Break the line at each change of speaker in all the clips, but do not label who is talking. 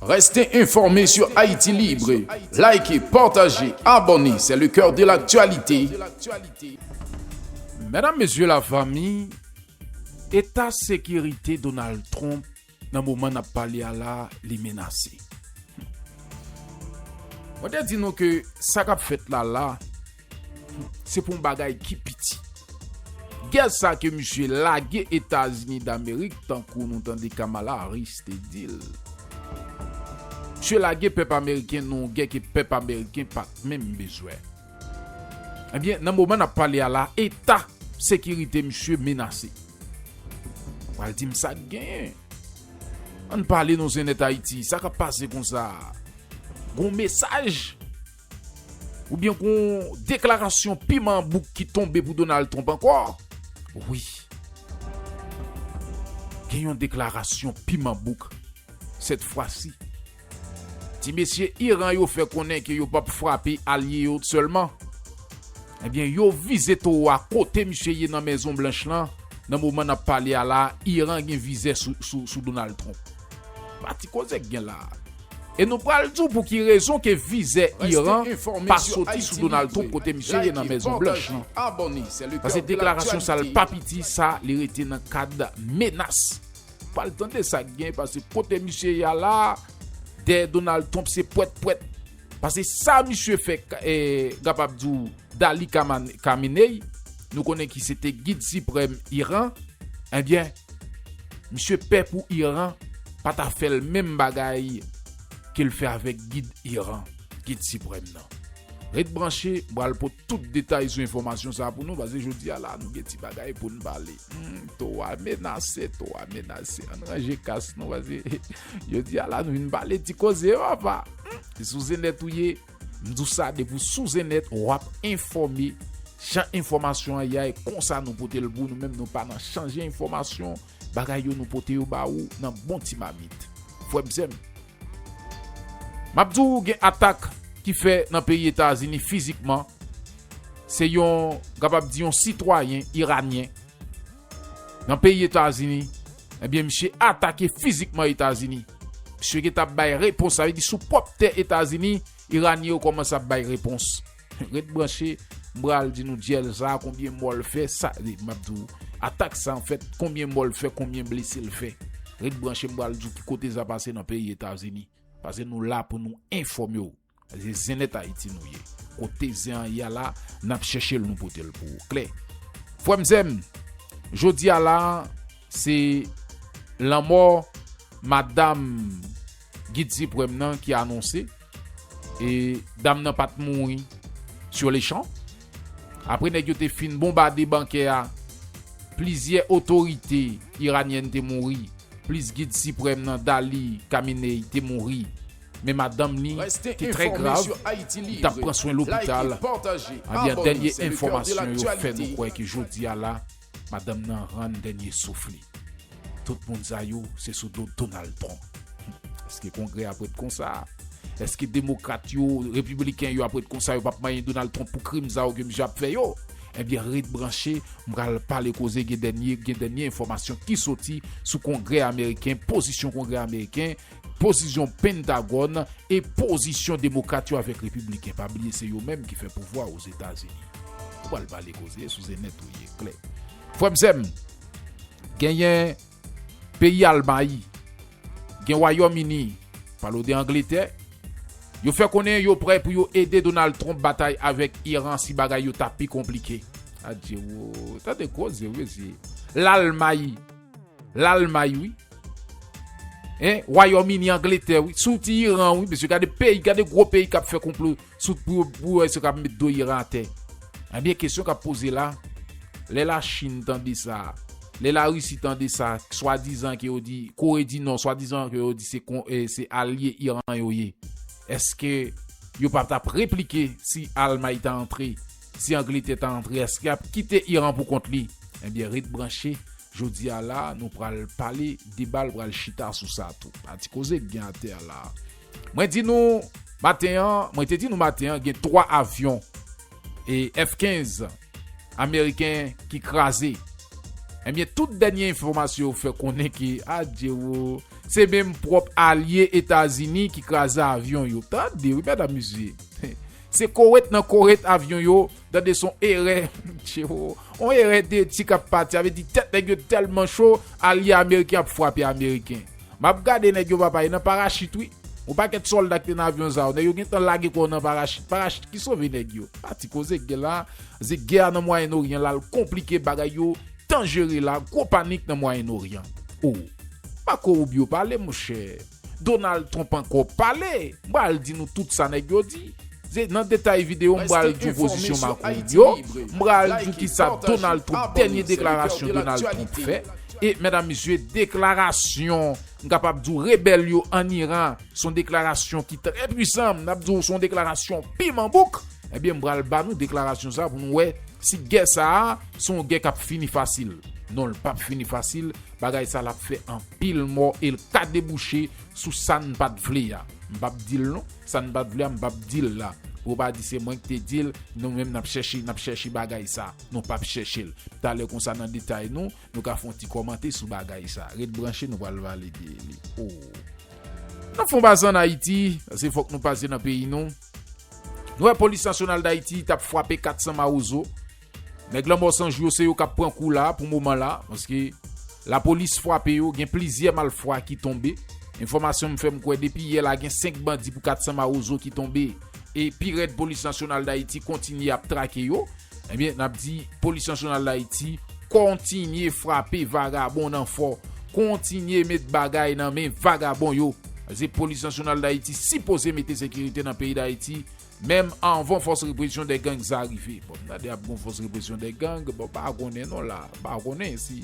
Reste informe sur Haïti Libre, Like, partage, abonne c'est le coeur de l'actualité.
Medam mesye la fami, eta sekirite Donald Trump nan moman nap pale a la li menase. Mwen te di nou ke sa kap fèt la la Se pou yon bagay ki piti. Gè sa ke misye lage Etazini Damerik tankou nou tande Kamala Harris te di l. Misye lage pèp ameriken nan yon gè ke pèp ameriken pa t menm bezwen. Ebyen, nan moman n ap pale a la, eta sekirite misye menase. Ou pral di m sa k genyen? Ann pale non Zenèt Ayiti, sa k ap pase konsa a? Gon mesaj Oubyen gon deklarasyon piman an bouk ki tonbe pou Donald Trump ankò? Wi. Gen yon deklarasyon piman bouk sèt fwasi. Ti mesye Iran yo fè konnen ke yo pap frape alye yo sèlman. Ebyen yo vize towo a kote misye ye nan Mezon Blanch lan, nan moman nap pale a la Iran gen vizè sou Donald Trump. Pa ti koze k gen la. E nou pral di w pou ki rezon ke vizè Iran pa soti sou Donald Trump kote misye ye nan Mezon Blanch lan. Pase deklarasyon sa l pa piti sa li rete nan kad menas. Pral tande sa k gen pase kote misye ye a la dèyè Donald Trump se pwèt pwèt. Pase sa misye fè gapab di w Dali Khamenei nou konnen ki se te gid siprèm Iran. Ebyen. Misye pè pou Iran pa ta fè l menm bagay ke l fè avèk gid Iran, gid siprèm nan. Ret branche, m pral pot tout detay sou enfòmasyon sa pou nou pase jodi a la nou gen ti bagay pou n pale. Humm to a menase, to a menase an n ranje kas nou pase jodi a la nou vin pale ti koze yo apa. Humm se sou zenèt ou ye. M di w sa depi w sou Zeneth wap enfòme jan enfòmasyon an ya e konsa nou pote l pou w nou menm nou pa nan chanje enfòmasyon bagay yo nou pote yo ba ou nan bon ti mamit frè m sè m. Map di w gen atak ki fè nan peyi Etazini fizikman se yon kapab di yon sitwayen iranyen Nan peyi Etazini, ebyen misye atake fizikman Etazini. Misye gentan ap bay repons, sa vle di sou pwòp tè Etazini, Iranyen yo kòmanse ap bay repons. Ret branche, m pral di nou dyèl sa a konbyen mò l fè, sa e m ap di w atak sa anfèt konbyen mò l fè, konbyen blese l fè. Ret branche m pral di w ki kote sa pase nan peyi Etazini. Pase nou la pou nou enfòme w. Se zen nèt ayiti nou ye. Kote zen an ye a la nap chèche l nou pote l pou ou klè. Frè m sè m jodi a la se lanmò madam gid siprèm nan ki anonse e dam nan pat mouri sur le chan. Apre nèg yo te fin bonbade bankè a plizyè otorite iranyèn te mouri plis gid siprèm nan Dali Kaminei te mouri. Men madanm li te trè grav, li tap pran swen lopital, ebyen dènye enfòmasyon yo fè nou kwè ke jodi a la madanm nan rann dènye souf li. Tout moun sa yo se sou do Donald Trump. Eske kongrè ap ret konsa? Eske demokrat yo, repibliken yo ap ret konsa yo pap manyen Donald Trump pou krim sa yo ke misye ap fè yo? Ebyen ret branche, m pral pale koze gen dènye gen dènye enfòmasyon ki soti sou kongrè ameriken, pozisyon kongrè ameriken, Pozizyon Pentagòn e pozisyon Demokrat yo avèk Repibliken, pa bliye se yo menm ki fè pouvwa Ozetazini. Ou pral pale koze sou ze nèt ou ye klè. Frè m sè m, genyen peyi Almay, gen Wayòm Ini, pale w de Angletè, yo fè konnen yo prè pou yo ede Donald Trump batay avèk Iran si bagay yo ta pi konplike. Adye woo, tande koze w mesye. Lalmay. Lalmay wi. Hein, Wayòm Ini, Angletè wi. Sou ti Iran wi, mesye. Gade peyi, gade gwo peyi k ap fè konplo sou pou yo pou yo wè si yo kab met do Iran atè. Ebyen kesyon k ap poze la, lè Lachin tande sa, lè Larisi tande sa, swadizan ke yo di, Kore di Nò, swadizan ke yo di se kon se alye Iran yo ye, èske yo pa t ap replike si Almay ta antre Si Angletè ta antre eske ap kite Iran pou kont li? Ebyen ret branche, jodi a la nou pral pale debal pral chita sou sa tou. A ti koze k gen atè a la. Mwen di nou maten an, mwen te di nou maten an gen 3 avyon e F 15 ameriken ki kraze. Ebyen tout dènye enfòmasyon yo fè konnen ke adjero se menm pwòp alye Etazini ki kraze avyon yo. Tande wi medam mesye. Se koret nan koret avyon yo tande son erè Mtcheoo on erè deti kap pati sa vle di tèt nèg yo tèlman cho alye ameriken ap frape ameriken map gade nèg yo papa e nan parachit wi on pakèt sòlda ki te nan avyon sa yo nèg yo gentan lage kò nan parachit parachit ki sove nèg yo pa ti koze k gen la ze gè a nan mwayen oryan la al konplike bagay yo danjere la gwo panik nan mwayen oryan ooh Marco Rubio pale monchè. Donald Trump ankò pale, m pral di nou tout sa nèg yo di. Se nan detay video m pral di w pozisyon Macron yo, m pral di w kisa Donald Trump dènye deklarasyon Donald Trump fè e medam mesye deklarasyon m kapab di w rebèl yo an Iran son deklarasyon ki trè pwisan m ap di w son deklarasyon piman bouk ebyen m pral ba nou deklarasyon sa pou nou wè si gè sa son gè k ap fini fasil non l pap fini fasil. Bagay sa lap fè anpil mò el ka debouche sou sann pat vle a m pap dil non sann pat vle a m pap dil la pou yo pa di se mwen ki te dil nou menm nap chèche nap chèche bagay sa nou pap chèchel talè konsa nan detay nou nou ka fon ti kòmante sou bagay sa ret branche nou pral valide li ooh nap fon pase an ayiti pase fòk nou pase nan peyi nou nou wè polis nasyonal dayiti tap fwape 400 mawozo. Nèg lanmò san jou yo se yo kap pran kou la pou moman la paske lapolis fwape yo gen plizyè malfwa ki tonbe enfòmasyon m fèm kwè depi yè la gen 5 bandi pou 400 mawozo ki tonbe e pi rèd polis nasyonal dayiti kontinye ap trake yo ebyen nap di polis nasyonal dayiti kontinye fwape vagabon nan fò kontinye met bagay nan men vagabon yo paske polis nasyonal dayiti sipoze mete sekirite nan peyi dayiti Menm anvan fòs represyon dè gang sa rive. Bon m tande ap gon fòs represyon dè gang, bon m pa konnen non la, m pa konnen si.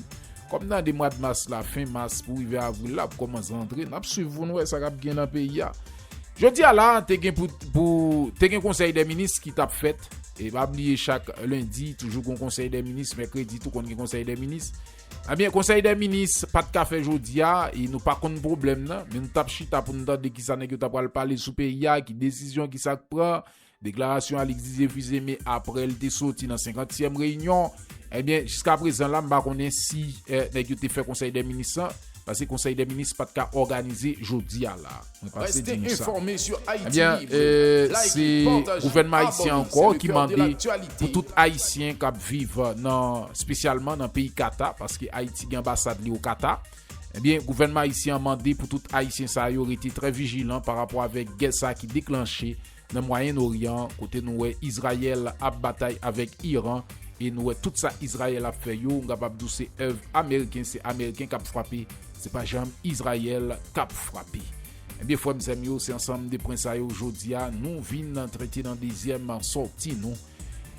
Kòm m tande mwad mas la, fen mas pou rive avril la ap kòmanse antre, n ap swiv pou n wè sa k ap gen nan peyi a. Jodi a la, te gen pou, pou, te gen konsèy dè minis ki t ap fèt. E pa bliye chak lendi toujou gon konsèy dè minis, mèkredi tou konn gen konsèy dè minis. Ebyen konsèy dè minis pat ka fè jodi a e nou pa konn pwoblèm nan men nou tap chita pou nou tande kisa nèg yo ta pral pale sou peyi a ki desizyon kisa k pran deklarasyon Alix Didier Fils-Aimé aprè l te soti nan 50 tièm reyinyon ebyen jiska prezan la m pa konnen si nèg yo te fè konsèy dè minis lan paske konsèy dè minis pat ka òganize jodi a la. Reste informe sur Haïti Ebyen Libre. Like se it,
partage
it, gouvènman ayisyen abonner, ankò c'est le ki coeur de mande pou l'actualité. tout ayisyen k ap viv nan spesyalman nan peyi Kata paske Ayiti gen anbasad li o Kata ebyen gouvènman ayisyen an mande pou tout ayisyen sa yo rete trè vijilan pa rapò avèk gè sa ki deklanche Nan Mwayen Oryan, kote nou wè Izrayèl ap batay avèk Iran e nou wè tout sa Izrayèl ap fè yo, m kapab di w se èv ameriken, se ameriken k ap frape, se pa janm Izrayèl k ap frape. Ebyen frè m sè m yo, se ansanm de pwen sa yo jodi a nou vin trete nan dezyèm sòti nou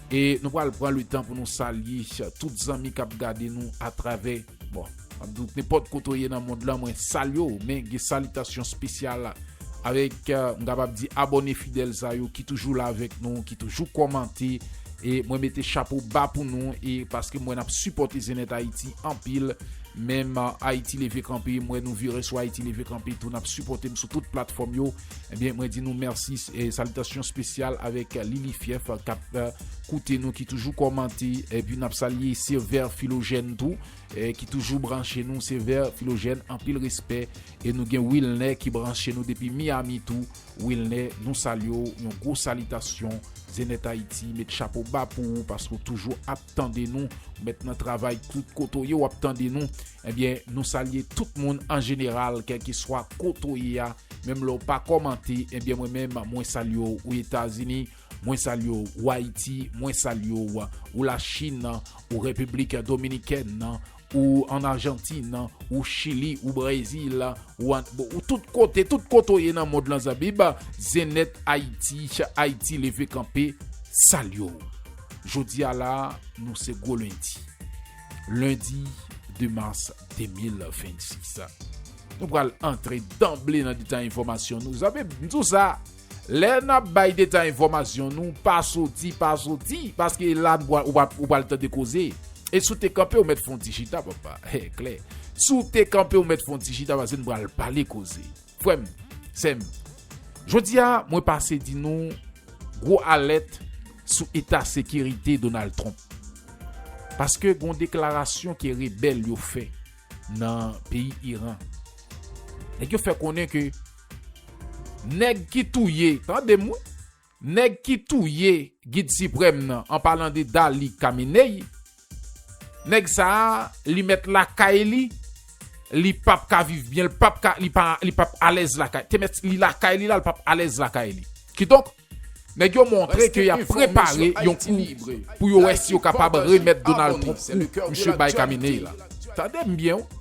e nou pral pran letan pou nou salye tout zanmi k ap gade nou atravè Bon, map di w nenpòt kote w ye nan mond lan mwen salye w men gen salitasyon spesyal avèk m kapab di abòne fidèl sa yo ki toujou la avèk nou, ki toujou kòmante e mwen mete chapo ba pou nou e paske m wè nap sipòte Zenèt Ayiti anpil menm Ayiti Leve Kanpe m wè nou vire sou Ayiti Leve Kanpe tou nap sipòte m sou tout platfòm yo. Ebyen mwen di nou mèsi e salitasyon spesyal avèk Lili Fyèf kap koute nou ki toujou kòmante epi nap salye Sevè Filojèn tou ki toujou branche nou Sevè Filojèn anpil respè e nou gen Wilnè ki branche nou depi Miami tou Wilnè nou salye ou yon gwo salitasyon Zenèt Ayiti met chapo ba pou ou paske ou toujou ap tande nou ou mèt nan travay tout kote ou ye wap tande nou ebyen nou salye tout moun an jeneral kèlkeswa kote ou ye a. Menm lè w pa kòmante ebyen mwen menm mwen salye w ou etazini mwen salye w ou ayiti mwen salye w ou la chin ou repiblik dominikèn ou an arjantin ou chili ou brezil ou an ou tout kote tout kote w ye nan mond lan zabib zenèt ayiti ayiti leve kanpe salye w jodi a la nou se gwo lendi lendi 2 mas 2026 Nou pral antre danble nan detay enfòmasyon nou. Zanmi m, m di w sa, lè n ap bay detay enfòmasyon nou, pa soti, pa soti, paske la n pral, ou pral tande koze. E si w te kanpe, ou mèt fè yon ti chita, papa. E klè. Si w te kanpe, ou mèt fè yon ti chita, paske n pral pale koze. Frè m, sè m, jodi a, mwen pase di nou gwo alèt sou eta sekirite Donald Trump. Paske gen yon deklarasyon ke rebèl yo fè. nan peyi Iran. Nèg yo fè konnen ke nèg ki touye, tande m wi, nèg ki touye gid siprèm nan an palan de Dali Kamenei, nèg sa a li mèt lakay li, li pap ka viv byen, li pap ka, li pa, li pap alèz lakay, te mèt li lakay li la, li pap alèz lakay li. Kidonk, Nèg yo montre ke yap prepare yon kou pou yo wè si yo kapab remèt Donald Trump kou misye bay Khamenei la. Tande m byen w.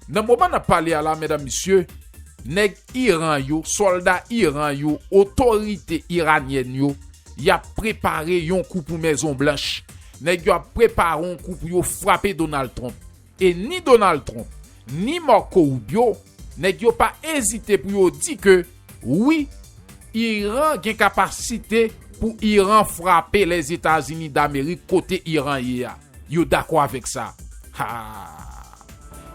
Nan moman nap pale a la medam mesye, nèg Iran yo, sòlda Iran yo, otorite iranyèn yo, yap prepare yon kou pou Mezon Blanch. Nèg yo ap prepare yon kou pou yo frape Donald Trump. E ni Donald Trump, ni Marco Rubio, nèg yo pa ezite pou yo di ke wi, Iran gen kapasite pou Iran frape Lèzetazini Damerik kote Iran ye a. Yo dakò avèk sa. Haa!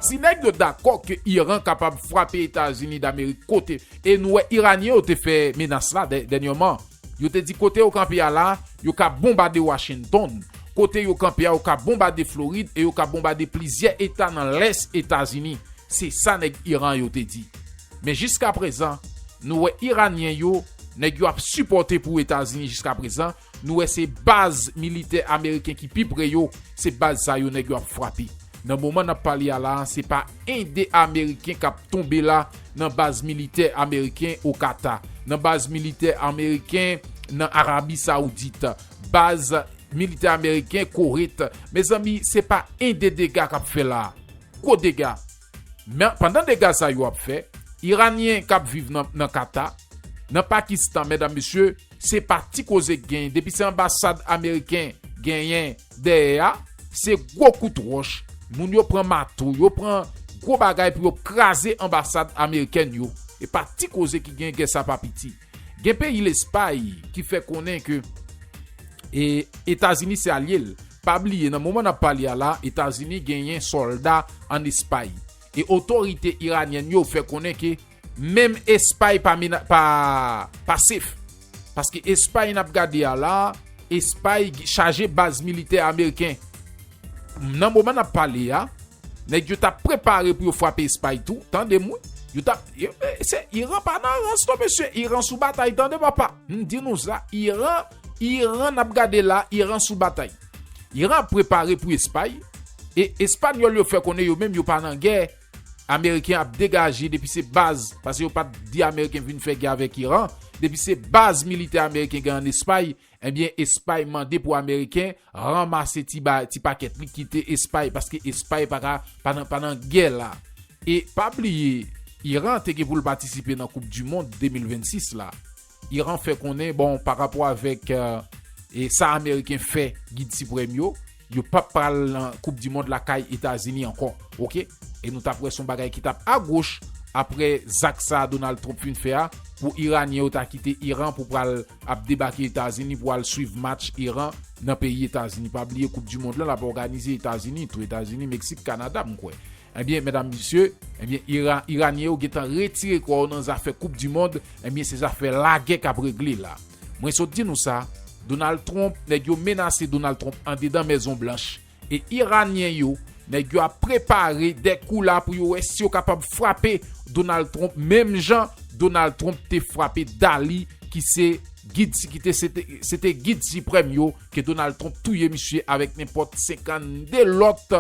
Si nèg yo dakò ke Iran kapab frape Etazini Damerik kote, e nou wè Iranyen yo te fè menas la dènyèman, Yo te di kote yo kanpe a la, yo ka bonbade Washington. Kote yo kanpe a yo ka bonbade Florid e yo ka bonbade plizyè eta nan lès Etazini, se sa nèg Iran yo te di. Men jiskaprezan, nou wè Iranyen yo, nèg yo ap sipòte pou Etazini jiskaprezan, nou wè se baz militè ameriken ki pi pre yo, se baz sa yo nèg yo ap frape. Nan moman nap pale a la se pa 1 2 ameriken kap tonbe la nan baz militè ameriken o Kata, nan baz militè ameriken nan Arabi Saoudit, baz militè ameriken Koret, mezanmi se pa 1 2 dega kap fè la, gwo dega. Men pandan dega sa yo ap fè, iranyen kap viv nan Kata, nan Pakistan medam mesye se pa ti koze k genyen depi se anbasad ameriken genyen. Dèyè a, se gwo kout wòch, moun yo pran mato, yo pran gwo bagay pou yo kraze anbasad amerikèn yo. E pa ti koze ki gen gè sa pa piti. Gen peyi Lespay ki fè konnen ke Etazini se alye l. Pa bliye nan moman n ap pale a la, Etazini genyen sòlda an Espay. E otorite iranyèn yo fè konnen ke Menm Espay pa pasif. Paske Espay n ap gade a la, Espay chaje baz militè ameriken. Nan moman n ap pale a, nèg yo t ap prepare pou yo fwape Espay tou, tande m wi. Iran pa nan rans non mesye, Iran sou batay tande papa. M di nou sa, Iran n ap gade la, Iran sou batay. Iran ap prepare pou Espay, e Espanyòl yo fè konnen yo menm yo pa nan gè. Ameriken ap degaje depi se baz pase yo pat di ameriken vin fè gè avèk iran depi se baz militè ameriken gen an espay ebyen espay mande pou ameriken ranmase ti ba ti pakèt li kite espay paske espay paka pa nan pa nan gè la e pa bliye iran te gen poul patisipe nan koup du mond 2026 la Iran fè konnen bon pa rapò avèk sa ameriken fè gid siprèm yo, yo pa pral nan koup di mond lakay Etazini ankò ok e nou tap wè son bagay ki tap agoch aprè zak sa Donald Trump fin fè a pou iranyen yo ta kite Iran pou pral ap debake Etazini pou al swiv match Iran nan peyi Etazini pa bliye koup di mond lan lap òganize Etazini tou Etazini Meksik Kanada mkwè. Ebyen medam mesye ebyen ira iranyen yo gentan retire kò yo nan zafè koup du mond ebyen se zafè lagè kap regle la mwen sot di nou sa Donald Trump nèg yo menase Donald Trump andedan mèzon blanch e iranyen yo nèg yo ap prepare dè kou la pou yo wè si yo kapab frape Donald Trump menm jan Donald Trump te frape Dali ki se gid si kite se te gid siprèm yo. ke Donald Trump touye misye avèk nenpòt 52 lòt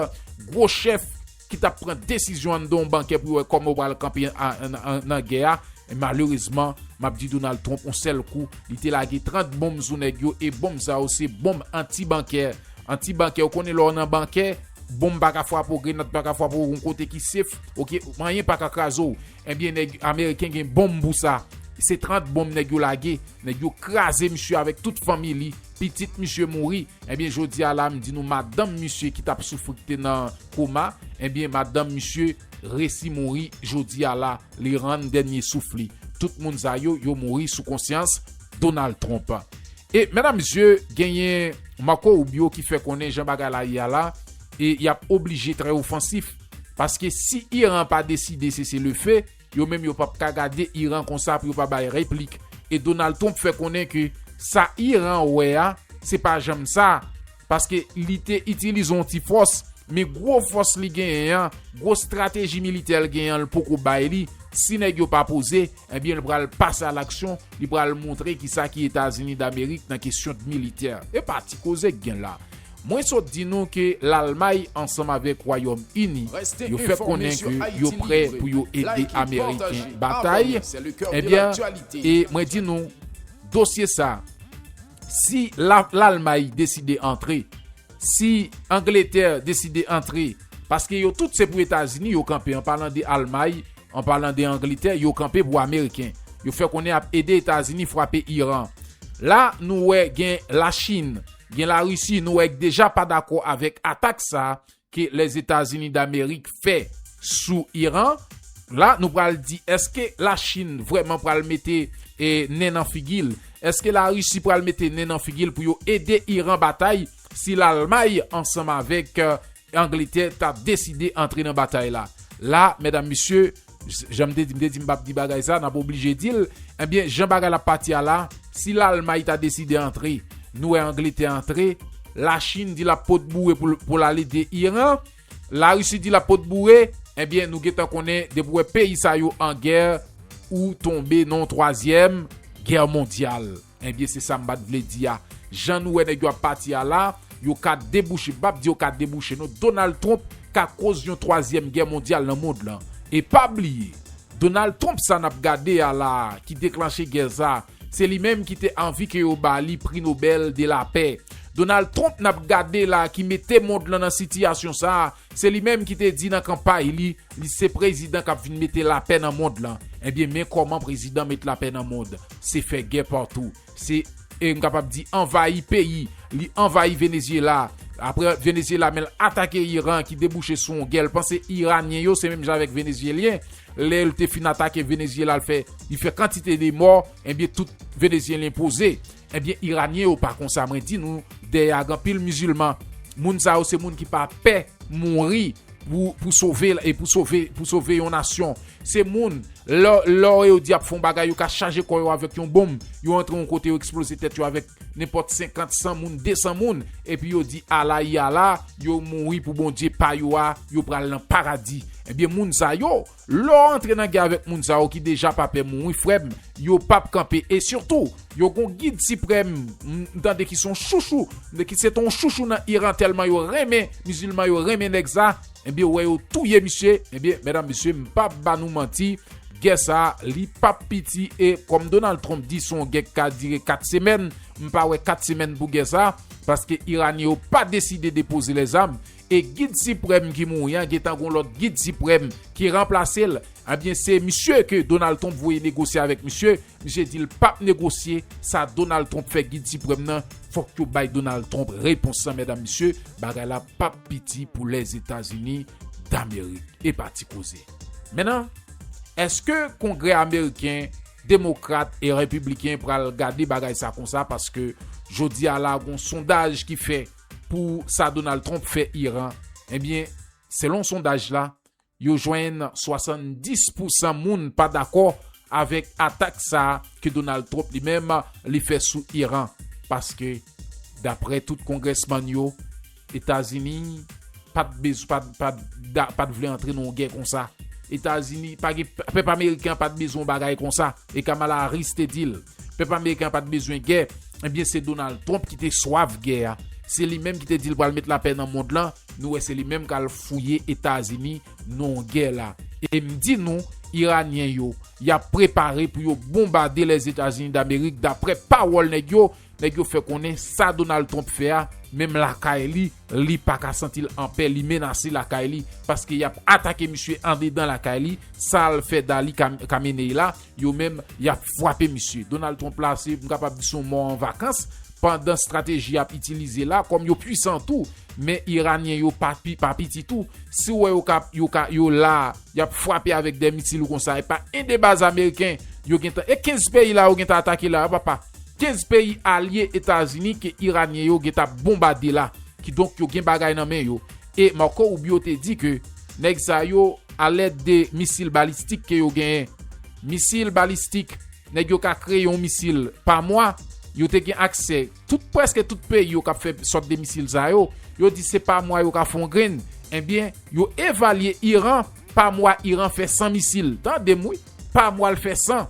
gwo chèf ki t ap pran desizyon anndan yon bankè pou yo wè kòman yo pral kanpe nan gè a. Men malerezman, m ap di Donald Trump yon sèl kou, li te lage 30 bonm sou nèg yo e bonm sa yo se bonm anti-bankè. Anti-bankè, ou konnen lè w nan bankè, bonm pa ka frape w, grenad pa ka frape w, yon kote ki sef, ok, anyen pa ka kraze w. Ebyen neg ameriken gen bonm pou sa se 30 bonm neg yo lage neg yo kraze misye avek tout fanmi li pitit misye mouri ebyen jodia la m di nou madanm misye ki tap soufri ki te nan koma ebyen madanm misye resi mouri jodia la li rann denye souf li tout moun sa yo yo mouri sou konsyans Donald Trump e medam mesye genyen Marco Rubio ki fè konnen jan bagay la ye a la e yap oblije trè ofansif. Paske si Iran pa deside sese le fe, yo menm yo pap ka gade Iran konsa pou yo pa bay replik. E Donald Trump fè konnen ke sa Iran wè a, se pa janm sa. Paske li te itilize yon ti fòs, men gwo fòs li genyen an, gwo strateji militè l genyen an l poko bay li, si nèg yo pa poze, ebyen l pral pase a laksyon, li pral montre kisa ki Etazini Damerik nan kesyon dmilitè. Epa ti koze k gen la. Mwen sot di nou ke Lalmay ansanm avèk Wayòm Ini yo fè konnen ke yo prè pou yo ede Ameriken batay, ebyen e mwen di nou dosye sa si Lalmay deside antre, si Angletè deside antre, paske yo tout se pou Etazini yo kanpe an palan de Almay, an palan de Angletè yo kanpe pou Ameriken yo fè konnen ap ede Etazini frape Iran. La nou wè gen Lachin. Gen la Russie nou wè k deja pa dakò avèk atak sa ke Lèzetazini Damerik fè sou Iran. La nou pral di eske la Chine vrèman pral mete nen nan figi l? Eske la Russie pral mete nen nan figi l pou yo ede Iran batay si Lalmay ansanm avèk Angletè ta deside antre nan batay la. La, medam mesye, jan m te di, m te di m pap di bagay sa, n ap oblije di l, enben, jan bagay la ap pati a la, si Lalmay ta deside antre, nou wè Angletè antre, Lachin di l ap pot boure pou l al ede Iran, Larisi di l ap pot boure, enben, nou gentan konnen, depi w wè peyi sa yo an gè, ou tonbe nan yon twazyèm gè mondyal. Ebyen se sa m pat vle di a. Jan nou wè nèg yo ap pati a la, yo ka debouche, m pap di yo ka debouche non, Donald Trump ka koz yon twazyèm gè mondyal nan mond lan. E pa bliye, Donald Trump sa n ap gade a la a, ki deklanche gè sa, se li menm ki te anvi ke yo ba li Pri Nobèl de la Pè. Donald Trump n ap gade la a ki mete mond lan nan sitiyasyon sa a, Se li menm ki te di nan kanpay li, li se prezidan kap vin mete lapè nan mond lan. Ebyen men kòman prezidan met lapè nan mond, se fè gè patou, se e m kapab di anvayi peyi, li anvayi Venezyela, aprè Venezyela menl atake Iran ki debouche sou yon gè, l panse Iranyen yo se menm jan avèk Venezyelyen, lè l te fin atake Venezyela l fè li fè kantite de mò, ebyen tout Venezyelyen poze. Ebyen iranyen yo pa konsa mwen di nou dèyè a gan pil mizilman moun sa yo se moun ki pa pè mouri pou sove e pou sove pou sove yon nasyon se moun lè lè yo di yap fon bagay yo ka chaje kò yo avèk yon bonm yo antre yon kote yo eksploze tèt yo avèk nenpòt 50 100 moun 200 moun epi yo di ala yi ala yo mouri pou bondye pa yo a yo pral nan paradi ebyen moun sa yo. Lè w antre nan gè avèk moun sa yo ki deja pa pè moun wi frè m yo pap kanpe e sitou yo gon gid siprèm m tande ki son chouchou ki se ton chouchou nan Iran tèlman yo renmen mizilman yo renmen nèg sa ebyen wè yo touye misye ebyen mèdam mesye m pap ba nou manti gè sa li pap piti e kòm Donald Trump di son gè k ka dire 4 semèn m pa wè 4 semèn pou gè sa paske Iranyen yo pa deside depoze lèzam e gid siprèm ki mouri an gentan gon lòt gid siprèm ki ranplase l ebyen se misye ke Donald Trump voye negosye avèk misye, misye di l pap negosye sa Donald Trump fè gid siprèm nan fòk yo bay Donald Trump repons lan mèdam mesye bagay la pap piti pou Lèzetazini Damerik epa ti koze men nan èske kongrè ameriken demokrat e repibliken pral gade bagay sa konsa paske jodi a la gon sondaj ki fè. pou sa Donald Trump fè Iran, ebyen selon sondaj la, yo jwenn 70 pou 100 moun pa dakò avèk atak sa ke Donald Trump li menm li fè sou Iran. Paske daprè tout kongrèsman yo, Etazini pat vle antre nan yon gè konsa. Etazini, pèp ameriken an pat bezwen yon bagay konsa. E Kamala Harris te di l. Pèp ameriken an pa t bezwen gè, ebyen se Donald Trump ki te swaf gè a. Se li menm ki te di l pral met lapè nan mond lan, nou wè se li menm k al fouye Etazini non gè la. E m di nou, Iranyen yo, y ap prepare pou yo bonbade Lèzetazini Damerik daprè pawòl nèg yo, nèg yo fè konnen sa Donald Trump fè a, menm lakay li, li pa ka santi l anpè, li menase lakay li, paske y ap atake misye andedan lakay li, sa l fè Dali Khamenei la. Yo menm, y ap fwape misye. Donald Trump la se, m kapab di se yon mò an vakans, pandan strateji y ap itilize la, kòm yo pwisan tou, men Iranyen yo pa piti tou, si w wè yo ka, yo ka, yo la, y ap fwape avèk dè misil ou konsa, epa 1 de baz ameriken yo gentan, e 15 peyi la yo gentan atake la a papa, 15 peyi alye Etazini ke Iranyen yo gentan ap bonbade la, kidonk yo gen bagay nan men yo. e Marco Rubio te di ke nèg sa yo a lèd de misil balistik ke yo genyen. Misil balistik, nèg yo ka kreye yon misil pa mwa, yo te gen aksè tout preske tout peyi yo kap fè sòt de misil sa yo, yo di se pa mwa yo ka fon grenn, enbyen yo evalye Iran pa mwa Iran fè 100 misil, tandem wi. pa mwa l fè 100.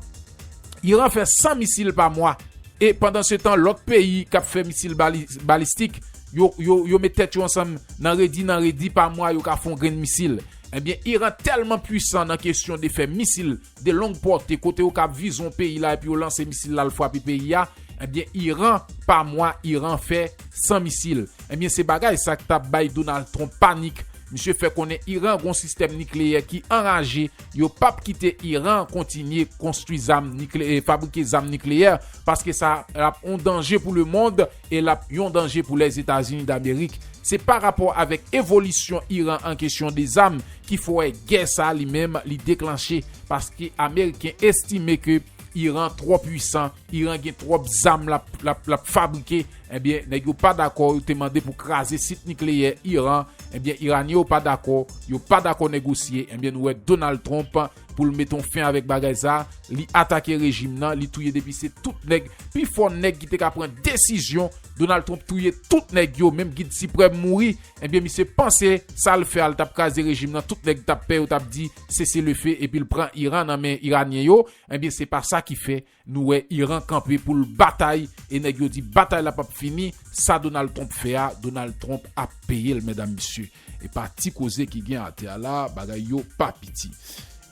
Iran fè 100 misil pa mwa e pandan se tan lòt peyi k ap fè misil balistik yo met tèt yo ansanm nan redi nan redi pa mwa yo ka fè yon grenn misil. Ebyen Iran tèlman pwisan nan kesyon de fè misil de long pòte kote yo kab vize yon peyi la epi yo lanse misil la al fwape peyi a ebyen Iran pa mwa Iran fè 100 misil. Ebyen se bagay sa k ta bay Donald Trump panik. Misye fè konnen Iran gen yon sistèm nikleyè ki anraje. yo pap kite Iran kontinye konstwi zam nikleyè, fabrike zam nikleyè paske sa ap yon danje pou lemond e lap yon danje pou Lèzetazini Damerik. Se pa rapò avèk evolisyon Iran an kesyon de zam ki fè gè sa li menm li deklanche paske ameriken estime ke Iran twò pwisan, Iran gen twòp zam lap fabrike, ebyen nèg yo pa dakò yo te mande pou kraze sit nikleyè Iran. Ebyen Iranie yo pa dakò, yo pa dakò negosye, ebyen nou wè Donald Trump pou l met on fen avèk bagay sa, li atake rejim nan, li touye depi se tout nèg, pi fò nèg ki te ka pran desizyon, Donald Trump touye tout nèg yo, menm gid siprèm mouri, ebyen misye panse sa l fè a l tap kraze rejim nan tout nèg tap pè yo tap di sese le fe epi l pran Iran nan men Iranyen yo, ebyen se pa sa ki fè. Nou wè Iran kanpe pou l batay e nèg yo di batay la pap fini, sa Donald Trump fè a Donald Trump ap peye l medam mesye e pa ti koze ki gen atè a la bagay yo pa piti.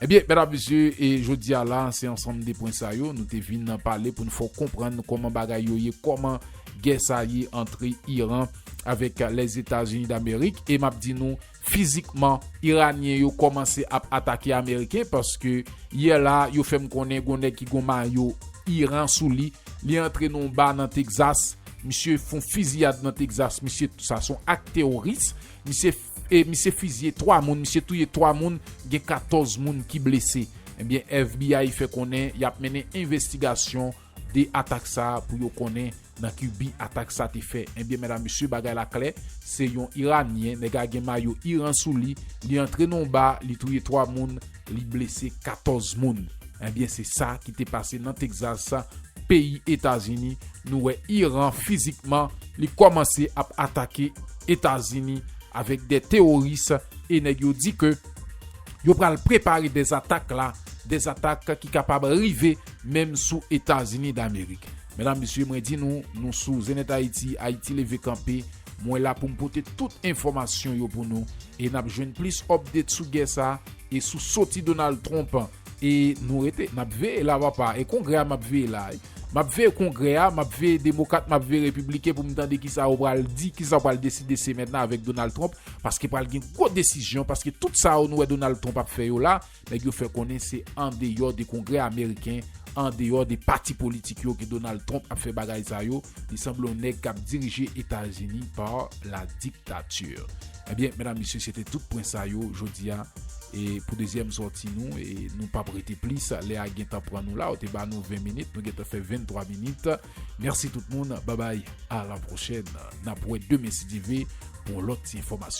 Ebyen medam mesye e jodi a la se ansanm de pwen sa yo nou te vin n pale pou n fè w konprann kòman bagay yo ye kòman gè sa ye antre Iran avèk Lèzetazini Damerik e map di nou Fizikman, Iranyen yo kòmanse ap atake Ameriken paske yè la a yo fè m konnen gon nèg ki gon mayo Iran sou li, li antre nan yon ba nan Texas, misye fon fiziyad nan Texas, misye sa son ak teworis, misye e misye fiziye 3 moun, misye touye 3 moun, gen 14 moun ki blese. Ebyen FBI fè konnen yap mennen envestigasyon de atak sa pou yo konnen nan ki bi atak sa te fè ebyen medam mesye bagay la klè se yon iranyen nèg a gen mayo iran sou li li antre nan yon ba li touye 3 moun li blese 14 moun ebyen se sa ki te pase nan Texas peyi etazini nou wè iran fizikman li kòmanse ap atake etazini avèk de teworis e nèg yo di ke yo pral prepare de atak la de atak ki kapab rive. Menm sou etazini damerik. Medam mesye mwen di nou nou sou zenith haiti haiti leve kanpe mwen la poum pote tout enfomasyon yo pou nou e nap jwenn plis update sou gè sa e sou soti Donald Trump e nou rete nap veye la papa e kongrè a map veye la map veye kongrè a map veye demokat map veye repiblike poum tande kisa yo pral di kisa yo pral deside semèn nan avèk Donald Trump paske pral gen gwo desizyon paske tout sa yo nou wè Donald Trump ap fè yo la Nèg yo fè konnen se andeyò de Kongrè ameriken, andeyò de pati politik yo ke Donald Trump ap fè bagay sa yo, li sanble yon nèg kap dirije Etazini par la dictature. Ebyen medam mesye se te tout pwen sa yo jodi a e pou dezyèm sòti nou e nou pap rete plis lè a gentan pran nou la yo te ba nou 20 minit nou gentan fè 23 minit mèsi tout moun babay a la pwochèn nap wè demen si Dye ve pou yon lòt ti enfòmasyon.